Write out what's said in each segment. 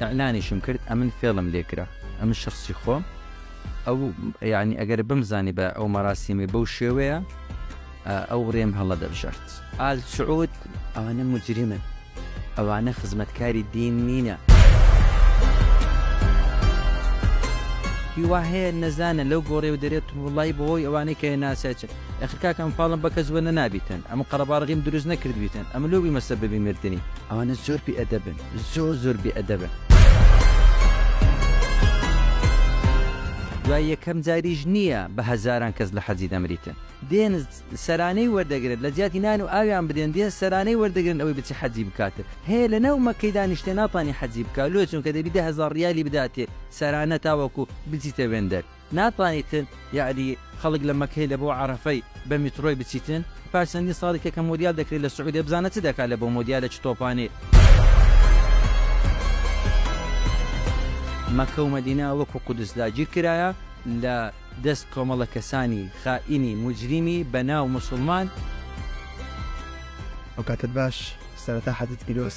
اعلانیشم کرد ئەمن فێڵم لێ کرا ئەمن شەخسی خۆم ئەو یانی ئەگەر بمزانیبا ئەو مەراسیمەی بەو شێوەیە ئەو رێم هەڵە دەبژارد. ئال سعود ئەوانە موجریمن ئەوانە خزمەتکاری دین نینە. کی وا هەیە نەزانە لەو گۆڕێ و دەرێ تڕوڵایی بۆ هۆی ئەوانەی کە یە ناسای چ ئەخر کاکە ئەم فاڵم بە کەس وەنە نابیتن ئەم قەرەباڵغیم دروست نەکردبیتن ئەم لۆ بیمە سەبەبی مردنی ئەوانە زۆر بی ئەدەبن. زۆر زۆر بێ ئەدەبن. دوای یەکەم جاریش نییە بە هەزاران کەس لە حەجی دەمریتن دێن سەرانەی وەردەگرن لە جیاتی نان و ئاویان بدێن دێن سەرانەی وەردەگرن ئەوەی بچی حەجی بکاتن هەیە لە ناو مەکەی دانیشتێ ناتانی حەجی بکا لۆ چونکە دەبی دە هەزار ڕیالی بداتێ سەرانە تاوەکو بچیتە وێندەر ناتوانی تر یاری خەڵک لە مەکەی لە بۆ عەرەفەی بە میترۆی بچیتن پاش چەندین ساڵی کە کە مۆدیال دەکرێ لە سعودیە بزانە چ دەکا لە بۆ مۆدیالە چ تۆپانێ. مەکە و مەدینە وەکو قودس داگیر کرایە لە دەست کۆمەڵە کەسانی خائینی موجریمی بە ناو موسوڵمان. ئەوکاتەت باش سەرەتا حەجت پیرۆز.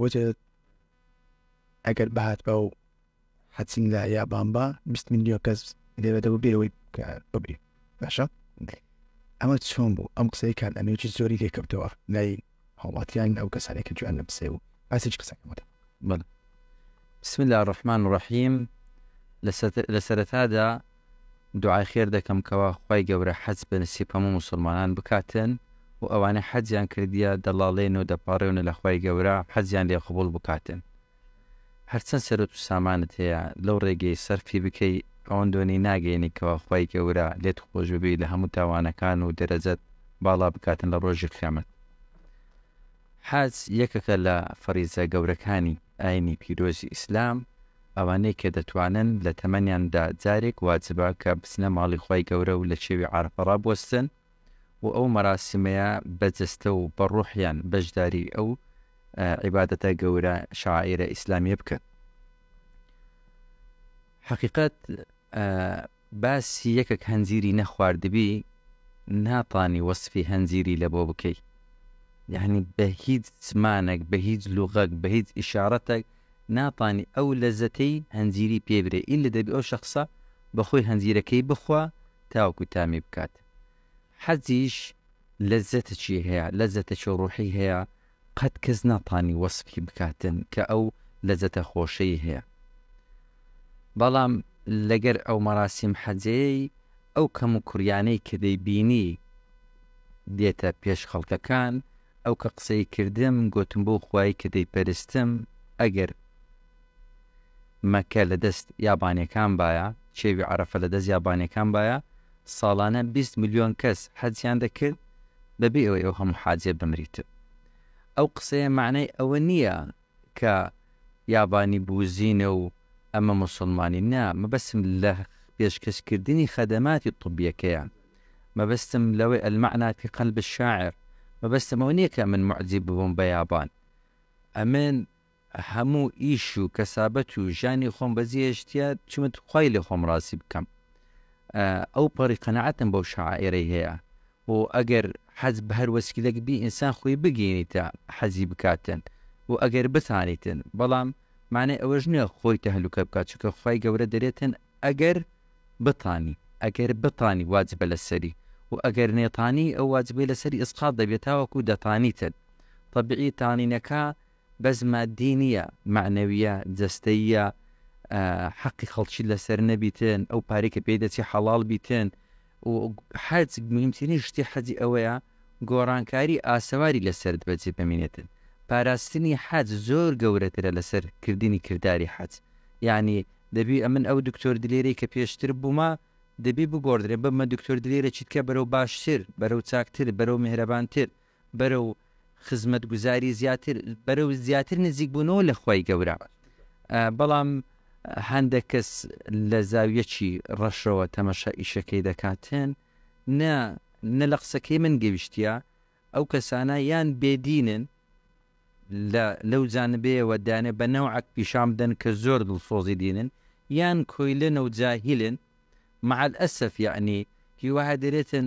وتت ئەگەر بهاتبا و حەچین لە یابان با بیست میلیۆن کەس لێوێتەوە بێەوەی بگری باشە ئەمە چۆن بوو ئەم قسەی کات ئەمێکی زۆری لێکەوتەوە لای هەڵاتیان ئەو کەسانێکی جوان لە بسێ و باسێک قسەکەمەوە بسم الله الرحمن الرحیم لە سەرەتادا دوعای خێر دەکەم کەوا خوای گەورە حەج بە نسیب هەموو موسڵمانان بکاتن و ئەوانەی حەجیان کردیە دەڵاڵێن و دەپاڕێونە لە خوای گەورە حەجیان لێ قبوڵ بکاتن هەرچەند سەروەت و سامانت هەیە لەو ڕێگەی سەرفی بکەی ئەوەن دۆنی ناگەینی کەوا خوای گەورە لێت خۆش ببی لە هەموو تاوانەکان و دەرەجەت باڵا بکاتن لە ڕۆژی قیامەت. حەج یەکەکە لە فەریزە گەورەکانی ئاینی پیرۆزی ئیسلام، ئەوانەی کە دەتوانن لە تەمەنیان دا جارێک واجبە کە بچنە ماڵی خوای گەورە و لە چێوی عەرەفە ڕابوەستن و ئەو مەراسیمەیە بە جەستە و بە ڕوحیان بەشداری ئەو عیبادەتە گەورە شەعائیرە ئیسلامیە بکەن. حەقیقەت باسی یەکەک هەنجیری نەخواردبی ناتانی وەسفی هەنجیری لەبۆ بکەی یەعنی بە هیچ زمانەک بە هیچ لوغەک بە هیچ ئیشارەتەک ناتانی ئەو لەزەتەی هەنجیری پێ برێ ئیللە دەبی ئەو شەخسە بەخۆی هەنجیرەکەی بخوا تاوەکو تامی بکات حەزیش لەزەتەکی هەیە لەزەتەکی ڕوحی هەیە قەت کەس ناتانی وەسفی بکاتن کە ئەو لەزەتە خۆشەی هەیە بەڵام لەگەر ئەو مەراسیم حەجەیەی ئەو کەمو کوریانەی کە دەیبینی دێتە پێش خەڵکەکان ئەو کە قسەی کردم گۆتم بەو خوایی کە دەیپەرستم ئەگەر مەکە لە دەست یابانیەکان بایە، چێوی عەرەفە لە دەست یابانیەکان بایە، ساڵانە بیست ملیۆن کەس حەجیان دەکرد بە بێ ئەوەی ئەو هەموو حاجیە بمریتن. ئەو قسەیە مەعنای ئەوە نیە کە یابانی بوزینە و ئەمە موسوڵمانی نا، مەبەستم لە پێشکەش کردنی خەدەماتی طبیەکەیە. مەبەستم لەوەی المعنی فی قلب الشاعر مەبەستم ئەوە نیە کە ئەمن موعجیب ببم بە یابان. ئەمن هەموو ئیش و کەسابەت و ژیانی خۆم بەجێهێشتیە چمت خوای لێ خۆم ڕازی بکەم ئەو پەڕی قەناعەتم بەو شاعێرەی هەیە و ئەگەر حەز بەهەر وەسیلەک بی ئینسان خۆی بگەینیتە حەزی بکاتن و ئەگەر بتانیتن بەڵام مانای ئەوەش نیە خۆی تەهلوکە بکات چونکە خوای گەورە دەرێتن ئەگەر بتانی ئەگەر بتانی واجبە لەسەری و ئەگەر نەیتانی ئەو واجبەی لەسەری ئیسقاط دەبێ تاوەکو دەتانیتن تەبیعی تانینەکە بەس ماددی نیە مەعنەویە جەستەییە حەقی خەڵکی لەسەر نەبیتن ئەو پارەی کە پێی دەچێ حەڵاڵ بیتن و حەج مهمترین شتی حەجی ئەوەیە گۆڕانکاری ئاسەواری لەسەرت بەجێ بمینێتن پاراستنی حەج زۆر گەورەترە لەسەر کردنی کرداری حەج یانی دەبی ئەمن ئەو دکتۆر دلێرەی کە پێشتر بوومە دەبی بگۆڕدرێ ببمە دکتۆر دلێرەکی تکە بەرەو باشتر بەرەو چاکتر بەرەو میهرەبانتر بەرەو خزمەتگوزاری زیاتر بەرەو زیاتر نزیکبوونەوە لە خوای گەورە بەڵام هەندێک کەس لە زاویەکی ڕەشەوە تەمەشا ئیشەکەی دەکاتێن نە نە لە قسەکەی من گەویشتە ئەو کەسانە یان بێدینن لە لەو جانبەیەوە دانێ بە نەوعک پیشان بدەن کە زۆر دڵسۆزی دینن یان کۆیلە نەوجاهیلن مەعال ئەسەف یعنی هیواها دەرێتن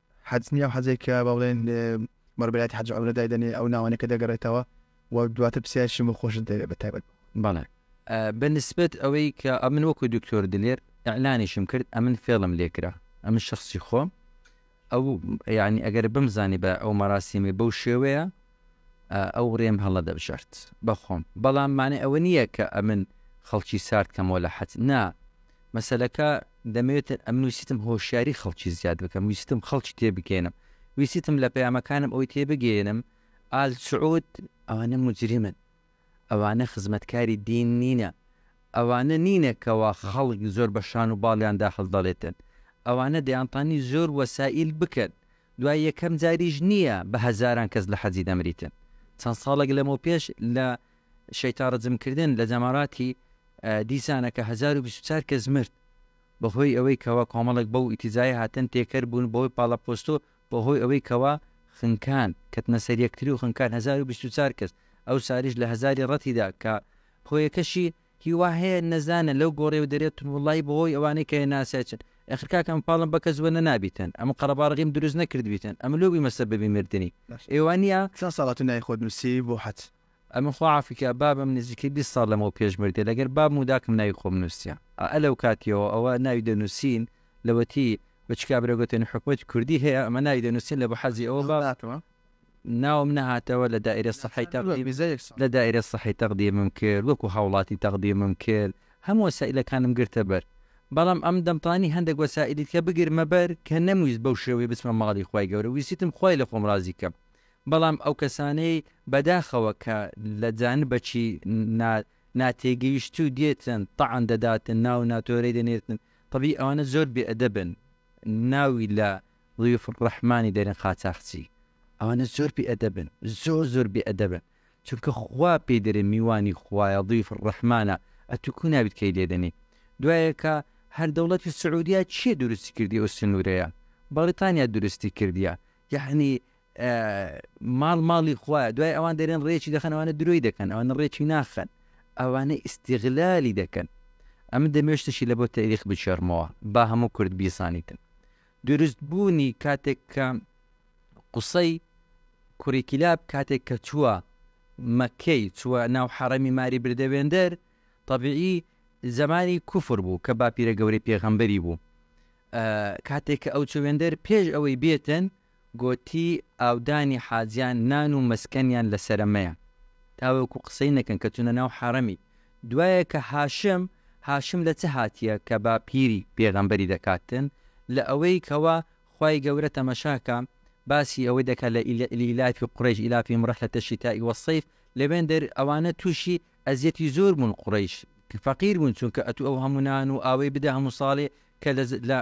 حەج نییە، ئەو حەجەی کە با بڵێین بەڕێبەرایەتی حەج و عەمرە دایدەنێ، ئەو ناوانەی کە دەگەڕێتەوە و دواتر پرسیارێکیشم بۆ خۆشت دەوێ بە تایبەت. بەڵێ. بە نسبەت ئەوەی کە ئەمن وەکوو دکتۆر دلێر ئیعلانیشم کرد، ئەمن فێڵم لێ کرا، ئەمن شەخسی خۆم ئەو یانی ئەگەر بمزانی بە ئەو مەراسیمەی بەو شێوەیە، ئەو رێم هەڵە دەبژارد بە خۆم بەڵام مانای ئەوە نییە کە ئەمن خەڵکی سارد کەمەوە لە حەد نا مەسەلەکە دەمەوێت ئەمن ویستم هۆشیاری خەڵکی زیاد بکەم ویستم خەڵکی تێ بگەێنم ویستم لە پەیامەکانم ئەوی تێ بگەێنم ئال سعود ئەوانە مجرمن ئەوانە خزمەتکاری دین نینە ئەوانە نینە کەوا خەڵک زۆر بە شان و باڵیاندا هەڵدەڵێتن ئەوانە دەیانتانی زۆر وەسائیل بکەن دوای یەکەم جاریش نییە بە هەزاران کەس لە حەجی دەمریتن. چەند ساڵێک لەمەوپێش لە شەیتان رجم کردن لە جەماراتی دیسانە کە هەزار و بیست و چوار کەس مرد بەهۆی ئەوەی کەوا کۆمەڵێک بەو ئیتیجایە هاتن تێکەر بوون بەهۆی پاڵەپۆستو بەهۆی ئەوەی کەوا خنکان کەتنە سەر یەکتریو خنکان هەزار و بیست و چوار کەس ئەوساریش لە هەزاری رەتیدا کە هۆیەکەشی هیوا هەیە نەزانە لەو گۆڕێ و دەرێ تون وڵڵایی بەهۆی ئەوانەی کە یە ناسای چن ئەخر کاکە ئەم پاڵم بە کەس وە نەنابیتن ئەم قەڕەباڵغیم دروست نەکردبیتن ئەم لۆ بویمە سەبەبی مردنی ئێ وا نیە؟ چەن ساڵە تو ناوی خۆت نوسیەوی بۆ حەج؟ ئەمن خوا عافی کا بابم نزیکەی بیست ساڵ لەمەو پێش مردیە لەگەر بابم و داکم ناوی خۆم نوسیە ئائە لەو کاتیەوە ئەوە ناوی دەنوسین لەوەتی بچکا برا گۆتێن حکومەتی کوردی هەیە ئەمە ناوی دەنوسین لە بە حەزی ئەوە بابم ناوم نەهاتەوە لە دائیرە سەحی تەقدیم لە دائیرە سەحی تەقدیمم کرد وەکو هاوڵاتی تەقدیمم کرد هەموو وەسائیلەکانم گرتە بەر بەڵام ئەم دەمتانی هەندەک وەسائیلی دیکە بگرمە بەر کە نەمویست بەو شێوەیە بچمە ماڵی خوای گەورە ویستیتم خوای لە خۆم ڕازی کەم بەڵام ئەو کەسانەی بەداخەوە کە لە جانبەکی نا ناتێگەیشتوو دێتن تەعن دەداتن ناو ناتۆرەی دەنێرتن تەبیی ئەوانە زۆر بێ ئەدەبن ناوی لە ضیوف الرحمانی دەرێن قاچاخچی ئەوانە زۆر بێ ئەدەبن زۆر زۆر بێ ئەدەبن چونکە خوا پێی دەرێ میوانی خوایە ضیوف الرحمانە ئەتو کو نابیت کەی لێ دەنێی دوایەکا هەر دەوڵەتی سعودیە چیە دروستی کردی ئەو سنورەیە بەڕیتانیا دروستی کردیە یەعنی ماڵ ماڵی خوایە دوای ئەوان دەرێن ڕێکی دەخەن ئەوانە درۆی دەکەن ئەوانە ڕێکی ناخەن ئەوانە ئیسیغلالی دەکەن ئەمن دەمێشتشی لە بۆ تەریخ بچێڕمەوە با هەموو کورد بیزانیتن دروست بوونی کاتێک کە قوسەی کوڕی کیلاب کاتێک کە چووە مەککەی چووە ناو حەڕەمی ماری بردە وێندەر تەبیعی زەمانی کوفر بوو کە باپیرە گەورەی پێغەمبەری بوو کاتێک کە ئەو چوو وێندەر پێش ئەوەی بێتن گۆتی ئاودانی حاجیان نان و مەسکەنیان لەسەرە مەیە تاوەکو قسەی نەکەن کە چونە ناو حەڕەمی دوایە کە هاشم، هاشم لە چ هاتیە کە با پیری پێغەمبەری دەکاتن لە ئەوەی کەوا خوای گەورە تەمەشاکە باسی ئەوەی دەکا لە لئیلافی قوڕیش ئیلافیم ڕحلەتە شیتائی وە صیف لەوێن دەر ئەوانە توشی ئەزیەتی زۆر بوون قوڕیش فەقیر بوون چونکە ئەتوو ئەو هەموو نان و ئاوەی بدە هەموو ساڵێ کە لە لە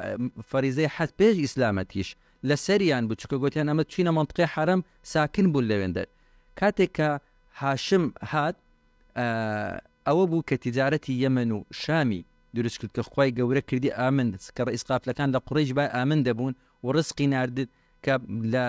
فەریزەی حەج پێش ئیسلامەتیش لە سەریان بوو چونکە گۆتیان ئەمە چوینە مەنتقەی حەرەم ساکن بوون لەوێن دەر کاتێک کە هاشم هات ئەوە بوو کە تیجارەتی یەمەن و شامی دروست کرد کە خوای گەورە کردی ئامن کە ڕەئیس قافلەکان لە قوڕەیش بای ئامن دەبوون و ڕزقی نارد کە لە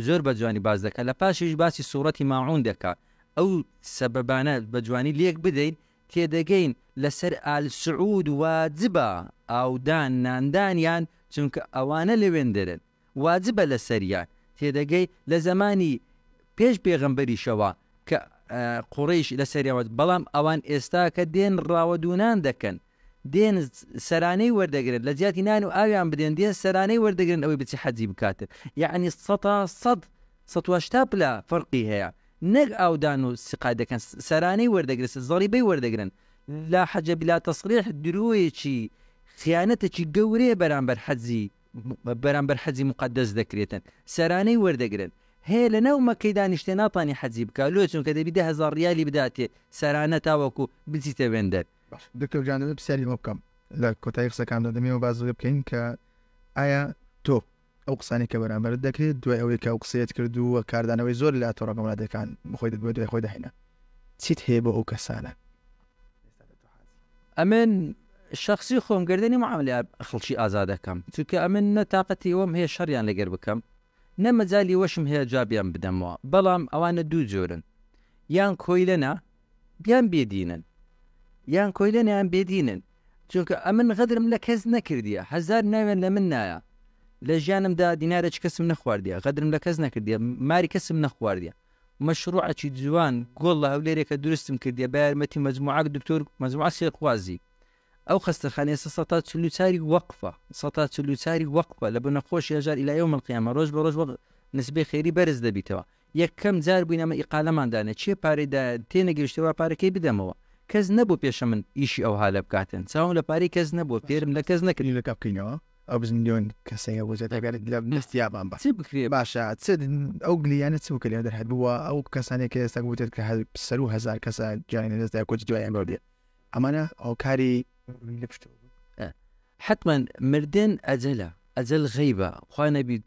زۆر بە جوانی باس دەکا لە پاشیش باسی سوڕەتی ماعون دەکا ئەو سەبەبانە بە جوانی لێک بدەین تێدەگەین لە سەر ئال سعود واجبە ئاودان ناندانیان چونکە ئەوانە لەوێندەرن واجبە لەسەریان، تێدەگەی لە زەمانی پێش پێغەمبەریشەوە کە قوڕەیش لەسەریان واجب بەڵام ئەوان ئێستا کە دێن ڕاوە دوونان دەکەن دێن سەرانەی وەردەگرن لە جیاتی نان و ئاویان بدەن دێن سەرانەی وەردەگرن ئەوەی بچی حەجی بکاتن یەعنی سەتا سەد سەد و هەشتا پلە فەرقی هەیە نەک ئاودان و سقا دەکەن سەرانەی وەردەگرن زەڕیبەی وەردەگرن لا حەجە بلا تەسڕیح درۆیەکی خیانەتێکی گەورەیە بەرامبەر حەجی بەرامبەر حەجی موقەدەس دەکرێتن سەرانەی وەردەگرن هەیە لەناو مەکەی دانیشتێ ناتانی حەجی بکا لۆ چونکە دەبی دە هەزار ڕیالی بداتێ سەرانە تاوەکو بچیتە وێندەر. باش دکتۆر گیان دەبێ پسیاری ئەوە بکەم لە کۆتایی قسەکاندا دەمێ ئەوە باس لەوە بکەین کە ئایا تۆ ئەو قسانەی کە بەرامبەرت دەکرێت دوای ئەوەی کە ئەو قسەیەت کردووە کاردانەوەی زۆر لە تۆڕە کۆمەڵاتیەکان بەخۆی دەبێت دوای خۆی داهێنا چیت هەیە بۆ ئەو کەسانە ئەمن شەخسی خۆم گەردەنی معاملە خڵکی ئازا دەکەم چونکە ئەمن نە تاقەتی ئەوەم هەیە شەڕیان لەگەر بکەم نە مەجالی وەشم هەیە جوابیان بدەمەوە بەڵام ئەوانە دوو جۆرن یان کۆیلەنە یان بێ دینن یان کۆیلەنە یان بێ دینن چونکە ئەمن غەدرم لە کەس نەکردیە هەزار ناوێن لە من نایە لە ژیانمدا دینارێک کەسم نەخواردیە غەدرم لە کەس نەکردیە ماری کەسم نەخواردیە مەشڕوعەکی جوان گۆڵ لە هەولێرێکە دروستم کردیە بە یارمەتی مەجموعەک دکتۆر مەجموعە سێرخوازی ئەو خەستەخانەیە ئێستا سەتا چل و چاری وەقفە سەتا چل و چاری وەقفە لە بنە خۆشی هەژار الی یوم القیامە ڕۆژ بە ڕۆژ وەق نسبەی خێری بەرز دەبیتەوە یەکەم جار بوین ئەمە ئیقالەمان دانێ چێ پارەی دایە تێنەگەیشتە وا پارە کەی بدەمەوە کەس نەبوو پێشە من ئیشی ئەوها لە بکاتن چاوم لە پارەی کەس نەبوو فێرم لە کەس نەکرد. ئەو بز ملیۆن کەسەیە وزە دەگەرت لە نستیابان بە چی بکرێ باشە چ ئەو گلیانە چ بکە لە دەرهات بووە ئەو کەسانێک کە ئێستا گوتێت کە هەر سەر و هزار کەسە جیانی لە دەستدا کۆچ دوایان بێت ئەمانە هۆکاری حتمما مردن ئەجەلە ئەجەل غیبە خوا نەبی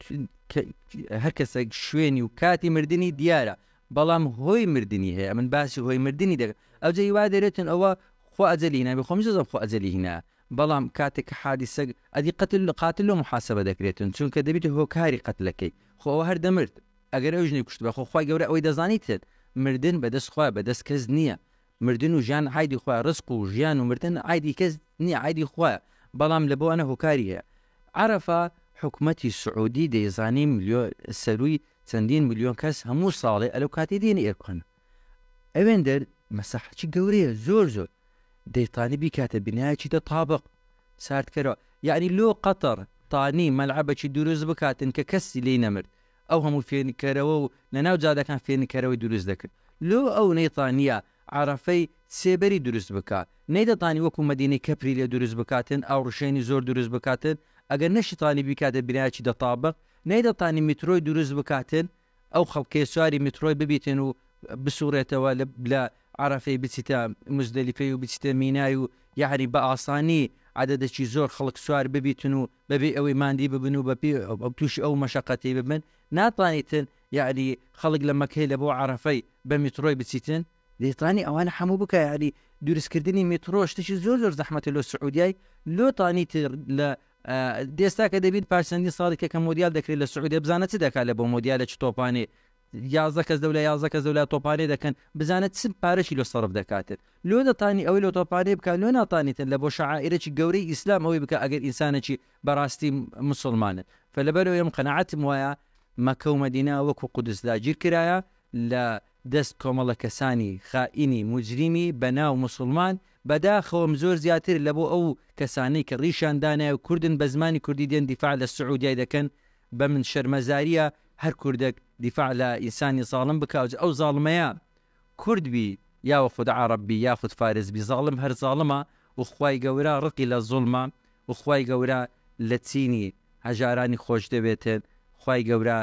هەر کەسێک شوێنی و کاتی مردنی دیارە بەڵام هۆی مردنی هەیە من باسی هۆی مردنی دەکە ئەوجە هیوا دەرێتن ئەوە خۆ ئەجلی نابی خۆم زۆ خۆ ئەجلی هینا بەڵام کاتێک کە حادیسەک ئەدی قەتل قاتل لۆ محاسەبە دەکرێتن چونکە دەبیتە هۆکاری قەتلەکەی خۆ ئەوە هەر دەمرد ئەگەر ئەو ژنەی کوشتبا خۆ خوای گەورە ئەوەی دەزانیتن مردن بەدەست خوایە بەدەست کەس نیە مردن و ژیان عایدی خوایە ڕزق و ژیان و مردن عایدی کەس نیە عایدی خوایە بەڵام لە بۆانە هۆکاری هەیە عەرەفە حکومەتی سعودی دەیزانی ملیۆن سەرووی چەندین ملیۆن کەس هەموو ساڵێ ئەلەو کاتی دێنێ ئێرکۆنە. ئەوێندەر مەساحەچی گەورەیە زۆر زۆر دەیتانی بیکاتە بینایەکی دە تابق ساردکەرەوە یەعنی لۆ قەتەڕ تانی مەلعەبەکی دروست بکاتن کە کەسی لێی نەمرد ئەو هەموو فێنککەرەوە و لە ناو جادەکان فێنککەرەوەی دروست دەکرد لۆ ئەو نەیتانیە عەرەفەی سێبەری دروست بکا نەیدەتانی وەکو مەدینەی کەپری لێ دروست بکاتن ئاوڕشێنی زۆر دروست بکاتن ئەگەر نەشیتانی بیکاتە بینایەکی دە تابق نەیدەتانی میترۆی دروست بکاتن ئەو خەڵکەی سواری میتڕۆی ببیتن و بسوڕێتەوە لە عەرەفەی بچیتە موزدەلیفەی و بچیتە مینای و یەعنی بە ئاسانی عەدەدەکی زۆر خەڵک سوار ببیتن و بەبێ ئەوەی ماندی ببن و بەبێ تووشی ئەو مەشەقەتەی ببن ناتانیتن یەعنی خەڵک لە مەککەی لە بۆ عەرەفەی بە میتڕۆی بچیتن دەیتانی ئەوانە حەموو بکە یەعنی دروست کردنی میتڕۆ شتەکی زۆر زۆر زەحمەتە لۆ سعودیای لۆ تانیتر لە ئێستا کە دەبینت پاش چەندین ساڵێکە کە مۆندیال دەکرێت لە سعودیە، بزانە چ دەکات لە بۆ مۆندیالە چ تۆپانێ یازدە کەس لەولا یازدە کەس لەولا تۆپانێ دەکەن، بزانە چ پارەکی لۆ سەرف دەکاتێت، لۆ دەتانی ئەوەی لۆ تۆپانێ بکات لۆ ناتانیتن لە بۆ شەعائیرەکی گەورەی ئیسلام ئەوەی بکات ئەگەر ئینسانەکی بەراستی موسڵمانن فە لەبەرئەوەیە من قەناعەتم وایە مەکە و مەدینە وەکو قودس داگیرکرایە لە دەست کۆمەڵە کەسانی خائینی موجریمی بە ناو موسوڵمان بە داخەوەم زۆر زیاتر لە بۆ ئەو کەسانەی کە ڕیشیان دانایە و کوردن بە زمانی کوردی دێن دیفاع لە سعودیای دەکەن بە من شەرمەزاریە هەر کوردەک دیفاع لە ئینسانی زاڵم بکا جا ئەو زاڵمەیە کورد بی یاوخود عەڕەب بی یاخود فارس بی زاڵم هەر زاڵمە و خوای گەورە ڕقی لە زوڵمە و خوای گەورە لە چینی هەژارانی خۆش دەوێتن خوای گەورە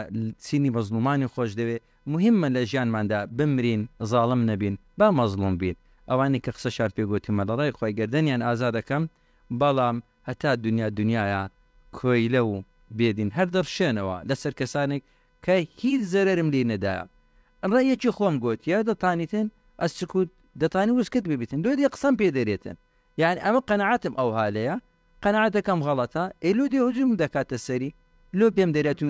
چینی مەزڵومانی خۆش دەوێ موهیمە لە ژیانماندا بمرین زاڵم نەبین با مەزڵوم بین ئەوانەی کە قسەشان پێ گۆتومە لە ڕای خوای گەردەنیان ئازاد ئەکەم بەڵام هەتا دونیا دونیایە کۆیلە و بێ دین هەر دەڕشێنەوە لەسەر کەسانێک کە هیچ زەرەرم لی نەدایە ڕەیەکی خۆم گۆتیە دەتانیتن ئە سکوت دەتانی وسکت ببیتن دۆ دێ قسەم پێ دەرێتن یانی ئەمە قەناعەتم ئەو هالەیە قەناعەتەکەم غەڵەتە ئێ لۆ دێ هجوم دەکاتە سەری لۆ پێم دەرێ تو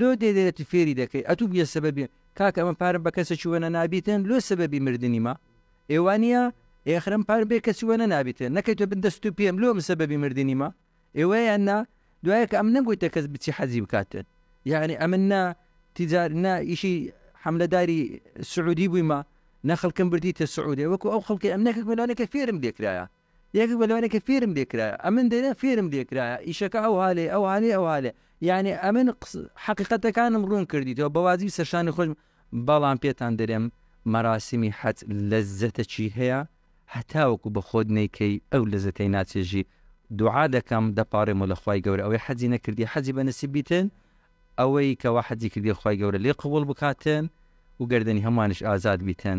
لۆ دێ دەرێ تو فێری دەکەی ئەتو بویە سەبەبی کاکە ئەمە پارم بە کەسێکی وەنە نابیتێن لۆ سەبەبی مردنی ما ئێ وانیە ئێ ئەخرم پارم بێ کەسی وەنە نابیتێن نەکەی تۆ بن دەست تو پێم لۆ من سەبەبی مردنی ما ئێ وە یان نا دوایە کە ئەم نەگویتە کەس بچی حەجی بکاتێن یانی ئەمن نا تیجار نا ئیشی حەملەداری سعودی بوویمە نە خەڵکم بردیتە سعودێ وەکو ئەو خەڵکی ئەم نەکەک مەلانەکە فێرم لێکرایە یەکێک بە لەوانەی کە فێرم لێ کرایە ئەمن دەرێ فێرم لێ کرایە ئیشەکە ئەو ها لێ ئەو ها لێ ئەو ها لێ یانی ئەمن قس حەقیقەتەکانم ڕوون کردیتەوە بە واجبی سەر شانی خۆشم بەڵام پێتان دەرێم مەراسیمی حەج لەززەتەکی هەیە هەتاوەکو بە خۆت نەیکەی ئەو لەزەتەی ناچێژی دوعا دەکەم دەپاڕێمەوە لە خوای گەورە ئەوەی حەجی نەکردی حەجی بە نسیب بیتن ئەوەی کەوا حەجی کردی خوای گەورە لێ قبوڵ بکاتن و گەردەنی هەموانیش ئازاد بیتن.